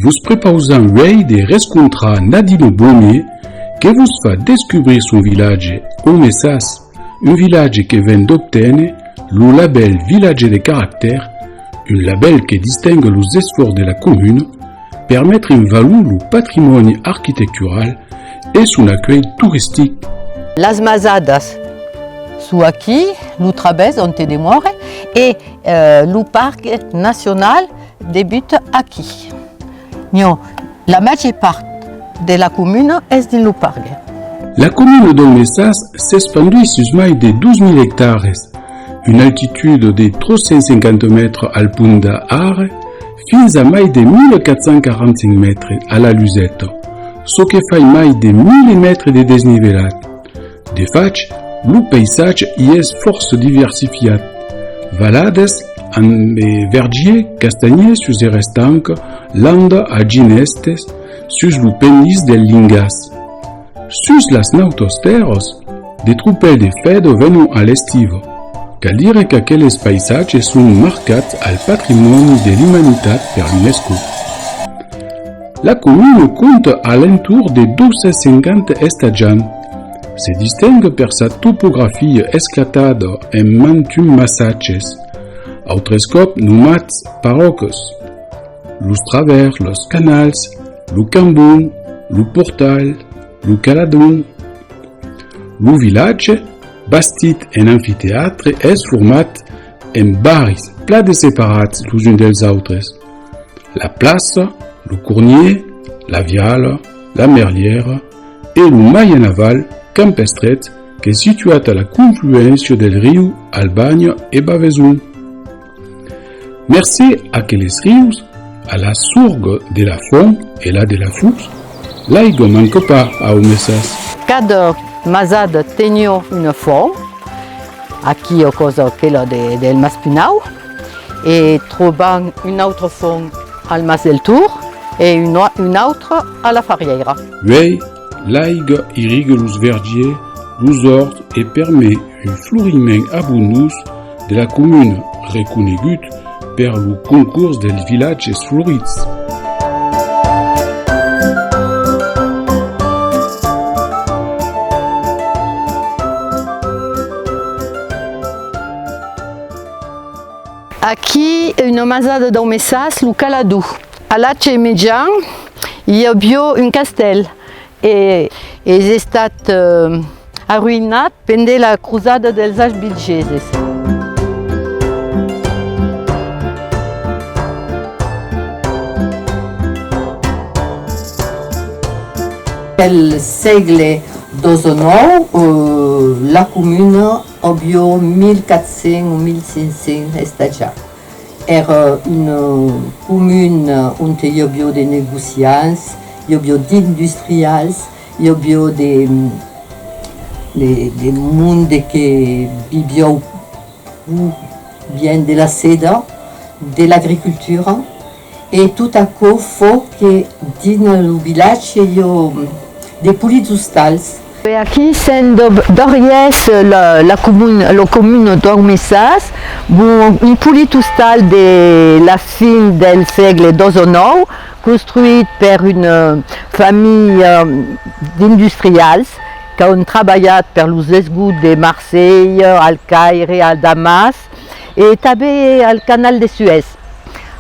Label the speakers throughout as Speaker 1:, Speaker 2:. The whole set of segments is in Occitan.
Speaker 1: Vos prepausam uèi de rescontrar Nadino Bone que vos fa descubrir son vilatge Omessas, un vilatge que ven d'obténer lo labèl Vilatge de Caractèr, un labèl que distinga los esfòrts de la comuna per metre en valor lo patrimòni arquitectural e son acuèlh toristic. Las Masadas, çò aquí, lo travèrs onte demòre e lo parc nacional debuta aquí. Nho, la màger part de la comuna es dins lo parc. La comuna d'Òl Messas s'espanduís sus mai de 2.000 ectares, una altitud de 350 mètres al punt d'A Are, Fins a mai de 1.445 mètres a la luseta, çò que fai mai de 1.000 mètres de desnivelat. De fach, lo paisatge i es fòrça diversifiat, valadas amb vergier castanhier sus er estanc, landa a ginestès sus lo pendís del Lingàs, Sus las nautos tèrras, de tropèl de fèdo venon a l'estiva. Cal dire qu'aqueles païsatges son marcats al patrimòni de l'umanitat per l'UNESCO. La comuna compta a l'entorn de 250 estatjants. Se distingue per sa topografia esclatada en mantun massatges, autres còp nomats paròcas. Los travèrs, los canals, Lo cambon, lo portal, lo caladon. Lo vilatge, bastit en amfiteatre, es format en barris plan de separats los uns dels autres, la plaça, lo cornier, la viala, la merlièra e lo mai en aval, camp estret, qu'es situat a la confluéncia del riu Albania e Baveson. Mercé aqueles rius, a la sorg de la fon e la de la fus, l'aigo manque pas au Messas. Cada masada tenió una fon, aquí o cosa aquela del Mas Pinau, e trobam una autra fon al Mas del Tur e una autra a la Farièira. Uèi, l'aiga irrigue los vergiers, los orts e permet Un floriment abonós de la comuna reconegut per lo Concors dels vilatges florits. Aquí una masada dau Messas, lo Calador. A l'atge mejan i avió un castèl E es estat arruïnat pendent la crosada dels Albigeses. Pel sègle xix-xix la comuna avió 1.400 o 1.500 estatjats. Èra un comun onte i avió de negociants, i avió d'industrials, i avió de de monde que vivió pro bien de la seda, de l'agricultura. E tot aquò fò que dins lo vilatge i ò de polits ostals. E aquí se'n dob dories lo comun d'Ormessas, un polit ostal de la fin del sègle ii o ix, construït per una familha d'industrials qu'an trabalhat per los esgots de Marselha, al Caire, a Damas, e tanben al canal de Suèz.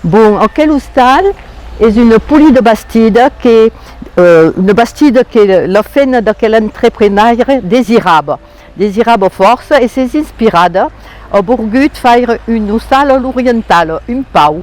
Speaker 1: Bon, aquel ostal es una poli de bastida que, una bastida que la fena d'aquel entreprenaire desirava, desirava fòrça e s'es inspirada, a borgut faire un ostal a l'orientala, un pau.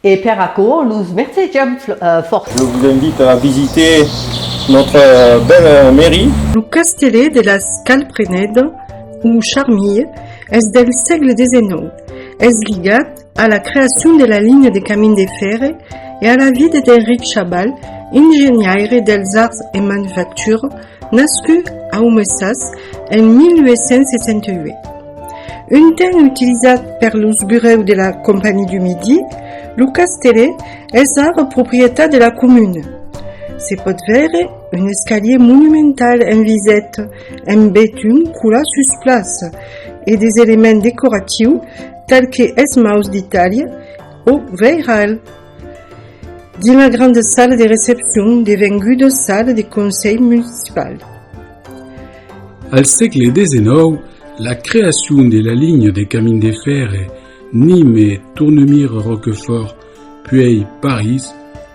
Speaker 1: E per aquò los mercejam fòrça. Je vous invite à visiter notre belle mairie. Lo castelet de las Calprenedes o Charmilles es del sègle xix. Es ligat a la creacion de la linha de camin de fèrre e a la vida d'Enric Chabal, ingeniaire dels arts e manufactura, Nascut a Umesas en 1868. Un temps utilizat per los burèus de la Compagnie du Midi, lo castellet es ara proprietat de la comuna. Se pòt veire un escalier monumental en viset en betun colat sus plaça e des elements decoratius tal que esmaus d'Itàlia o veiral. Dins la granda sala de recepcion, devenguda sala de conselh municipal. Al sègle xix, la creacion de la linha de camin de fèrre Nîmes-Tournemire-Roquefort, puèi París,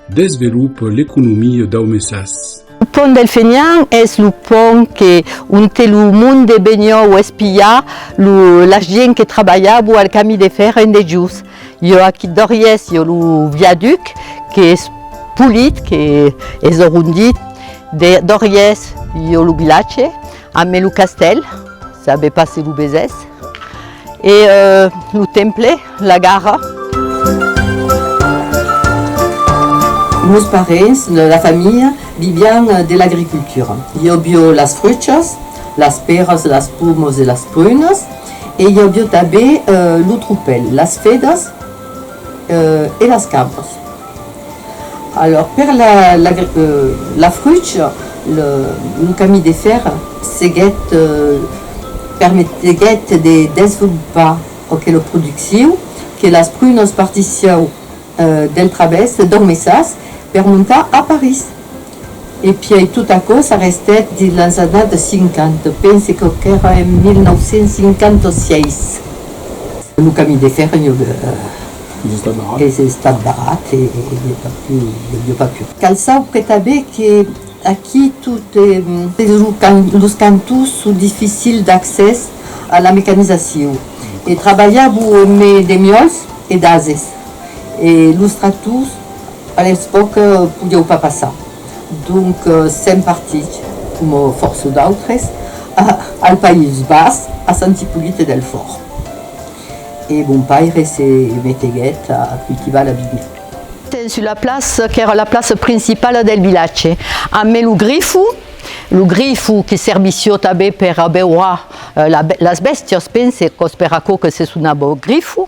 Speaker 1: desvelopa l'economia daumesas. Lo pont del Fenian es lo pont que onte lo monde benhòu espiar la gien que trabalhabo al cami de fèrre en dejós. Jo aquí d'Òrries, jo lo viaduc qu'es polit, qu'es orondit. D'Òrries, jo lo vilatge, amé lo castèl, sabe pas se lo vesés, e lo temple, la gara. Meus parents, la familha, vivián de l'agricultura. Jo vio las fruchas, las pèras, las pomos e las prunas. E i avió tanben lo tropèl, las fedas e las cabras. Alòr, per la fruch, lo camin de fèr seguèt permeteguèt de desvolopar aquela produccion que las prunas partissiáu del travès de Dormessas per montar a París. E pièi tot aquò s'arrestèt dins las annadas 50, pense que qu'èra en 1956. Lo camin de fèrre i es estat barrat e i a pas pu i a pas pu. Cal saupre tanben que aquí tot e los cantons son dificils d'accès a la mecanizacion e trabalhar vos emé de miòls e d'ases. e los tractors a l'epòca podieu pas passar, donc sèm partits, coma fòrça d'autres, al País Bas, a Sant Ipollite del Fòrt. E mon paire se meteguèt a cultivar la vinha. Ten sus la plaça qu'èra la plaça principala del vilatge, a mai lo grifu, lo grifu que servissió tanben per abeurar las bèstias, pense qu'os per aquò que se sonava grifu,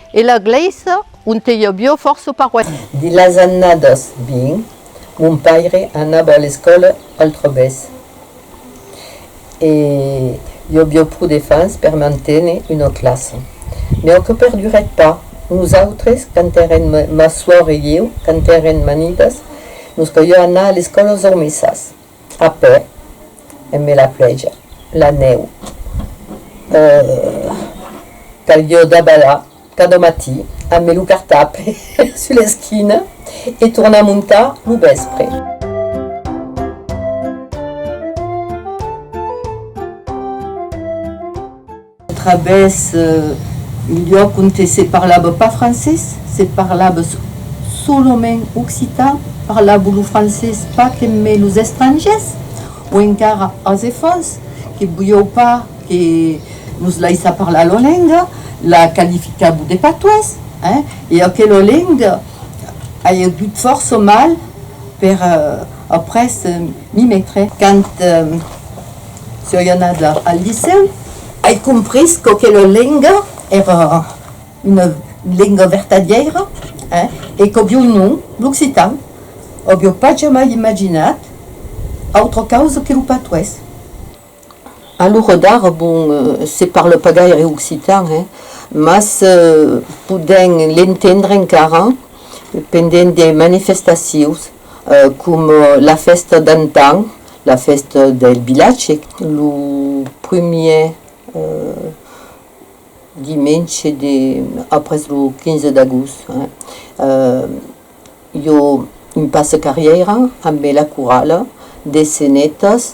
Speaker 1: E la glèisa onte i avió fòrça paroisses. Dins las annadas 20, mon paire anava a l'escòla al Trobès e i avió pro de fans per manténer una classa. Mai aquò perdurèt pas. Nosautres, quand èrem, ma suòr e ieu, quand èrem manidas, nos caliá anar a l'escòla Zormessas. A pè, en me la plèja, la nèu. Eh! Calió dabalhar cada matí a me lo cartap sus l'esquina e tornar montar lo vèspre. Trabès un luòc onte se parlava pas francés, se parlava solament occitan, parlavo lo francés pas que mai los estrangers, o encara als efants que voliáu pas que nos laissá parlar lor lenga, la qualificavo de patois, hein, e aquela lenga ai agut fòrça mal per après m'y metre. Quand Soi anada al licèu, ai comprés qu'aquela lenga èra una lenga vertadièira e qu'aviu nom, l'occitan. Aviu pas jamai imaginat autra causa que lo patois. A l'ora d'ara, bon, se parla pas gaire occitan, mas podèm l'entendre encara pendent de manifestacions com la fèsta d'antan, la fèsta del vilatge, lo primièr dimenge de, après lo 15 d'agost, jo un passe carrièira ambe la corala de Senetas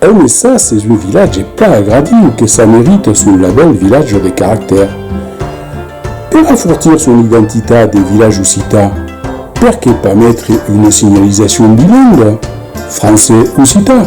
Speaker 1: Aunessas es un vilatge plan agradiu que s'a merita son labèl Vilatge de Caractèr. Per afortir son identitat de vilatge occitan, perqué pas metre una signalizacion bilingua, francés-occitan?